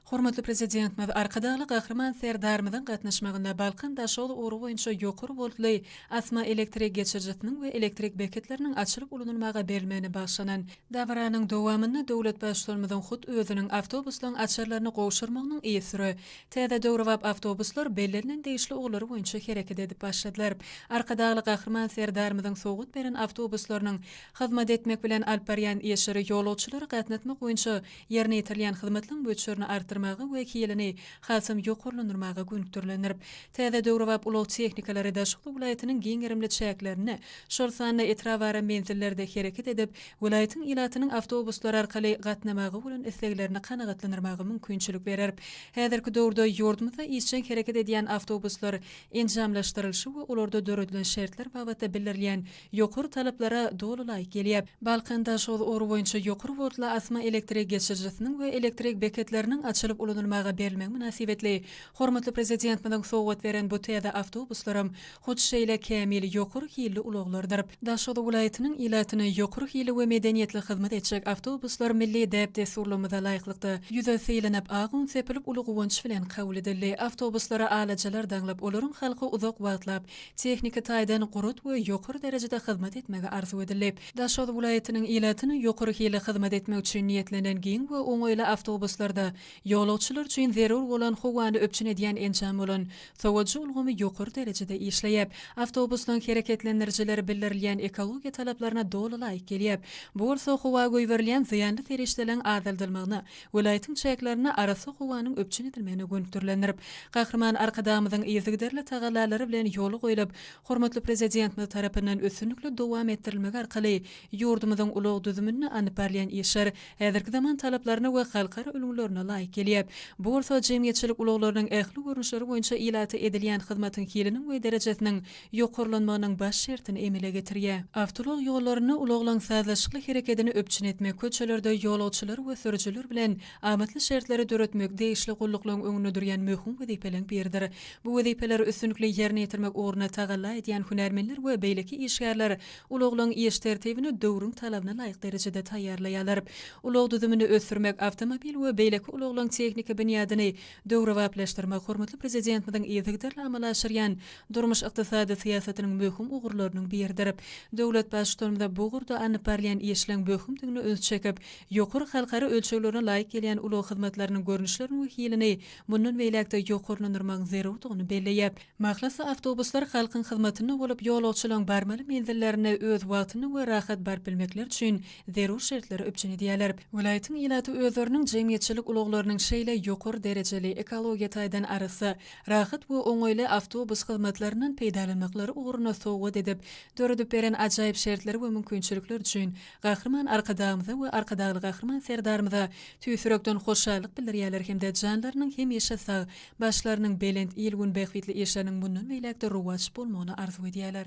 Hormatly Prezidentimiz Arkadagly Gahryman Serdarymyzyň gatnaşmagynda Balkan daşoguz ugry boýunça ýokary woltly asma elektrik geçirijisiniň we elektrik beketleriniň açylyp ulanylmaga berilmegine bagyşlanan dabaranyň dowamynda döwlet Baştutanymyzyň hut özüniň awtobuslaryň açarlaryny gowşurmagynyň yzsüre täze döwrebap awtobuslar bellenilen degişli ugurlary boýunça hereket edip başladylar. Arkadagly Gahryman Serdarymyzyň sowgat beren awtobuslarynyň hyzmat etmek bilen alyp barýan işleri ýolagçylary gatnatmak boýunça Ýerine ýetirilýän hyzmatlaryň möçberini artdyrmaga we hilini hasam ýokarlandyrmaga gönükdirilendir. Täze döwrebap ulag tehnikalary Daşoguz welaýatynyň giň gerimli çäklerinde, şol sanda etrapara menzillerde hereket edip, welaýatyň ilatynyň awtobuslary arkaly gatnamaga bolan isleglerini kanagatlandyrmaga mümkinçilik berer. Häzirki döwürde ýurdumyzda işjeň hereket edýän awtobuslar enjamlaşdyrylyşy we olarda döredilen şertler babatda bildirilýän ýokary talaplara doly laýyk gelýär. Balkanda şol ugur boýunça ýokary woltly asma elektrik geçirijisiniň we elektrik beketleriniň açylyp ulanylmaga berilmegi mynasybetli hormatly Prezidentimiziň sowgat beren bu täze awtobuslaram hut şeýle kämil ýokary hilli ulaglardyr. Daşoguz welaýatynyň ilatyna ýokary hilli we medeniýetli hyzmat etjek awtobuslar milli däp-dessurlarymyza laýyklykda, ýüze sylanyp, ak un sepilip uly guwanç bilen kabul edildi. Awtobuslara alajalar daňlyp, olaryň halky uzak wagtlap, tehniki taýdan gurat we ýokary derejede hyzmat etmegi arzuw edildi. Daşoguz welaýatynyň ilatyna ýokary hilli hyzmat etmek üçin niýetlenen giň we oňaýly awtobuslarda ýolagçylar üçin zerur bolan howany üpjün edýän enjam bolan sowujy ulgamy ýokary derejede işleýär. Awtobusyň hereketlendirijileri bildirilýän ekologiýa talaplaryna doly laýyk gelýär. Bu bolsa howa goýberilýän zyýanly serişdeleriň azaldylmagyna welaýatyň çäklerinde arassa howanyň üpjün edilmegine gönükdirilendirip, Gahryman Arkadagymyzyň yzygiderli tagallalary bilen ýola goýlup, hormatly Prezidentimiz tarapyndan üstünlikli dowam etdirilmegi arkaly ýurdumyzyň ulag düzüminde alnyp barylýan işler häzirki zaman talaplaryna we halkara ülňülerine laýyk gelýär. Bu bolsa jemgyýetçilik ulaglarynyň ähli görnüşleri boýunça ilata edilýän hyzmatyň hiliniň we derejesiniň ýokarlanmagynyň baş şertini emele getirýär. Awtoulag ýollarynda ulaglaryň sazlaşykly herekedini üpjün etmek, köçelerde ýolagçylar we sürüjiler bilen amatly şertleri döretmek degişli gulluklaryň öňünde durýan möhüm wezipeleriň biridir. Bu wezipeleri üstünlikli ýerine ýetirmek ugrunda tagalla edýän hünärmenler we beýleki işgärler ulaglaryň iş tertibini döwrüň talabyna laýyk derejede taýýarlaýarlar. Ulag düzümini ösdürmek, awtomobil we beýleki ulaglaryň tehniki binýadyny döwrebaplaşdyrmak hormatly Prezidentimiziň yzygiderli amala aşyrýan durmuş-ykdysady syýasatynyň möhüm ugurlarynyň biridir. Döwlet Baştutanymyz bu ugurda alnyp barylýan işleň möhümdigine üns çekip, ýokary halkara ölçeglerine laýyk gelýän ulag hyzmatlarynyň görnüşlerini we hilini mundan beýläk-de ýokarlandyrmagyň zerurdygyny belleýär. Mahlasy awtobuslar halkyň hyzmatynda bolup, ýolagçylaryň barmaly menzillerine öz wagtynda we rahat baryp bilmekleri üçin zerur şertleri üpjün edýärler. Welaýatyň ilaty özleriniň jemgyýetçilik ulaglarynyň şeýle ýokary derejeli, ekologiýa taýdan arassa, rahat we oňaýly awtobus hyzmatlaryndan peýdalanmaklary ugruna sowgat edip, döredip beren ajaýyp şertleri we mümkinçilikleri üçin Gahryman Arkadagymyza we Arkadagly Gahryman Serdarymyza tüýs ýürekden hoşallyk bildirýärler hem-de janlarynyň hemişe sag, Başlarynyň belent, il-gün bähbitli işleriniň mundan beýläk-de rowaç bolmagyny arzuw edýärler.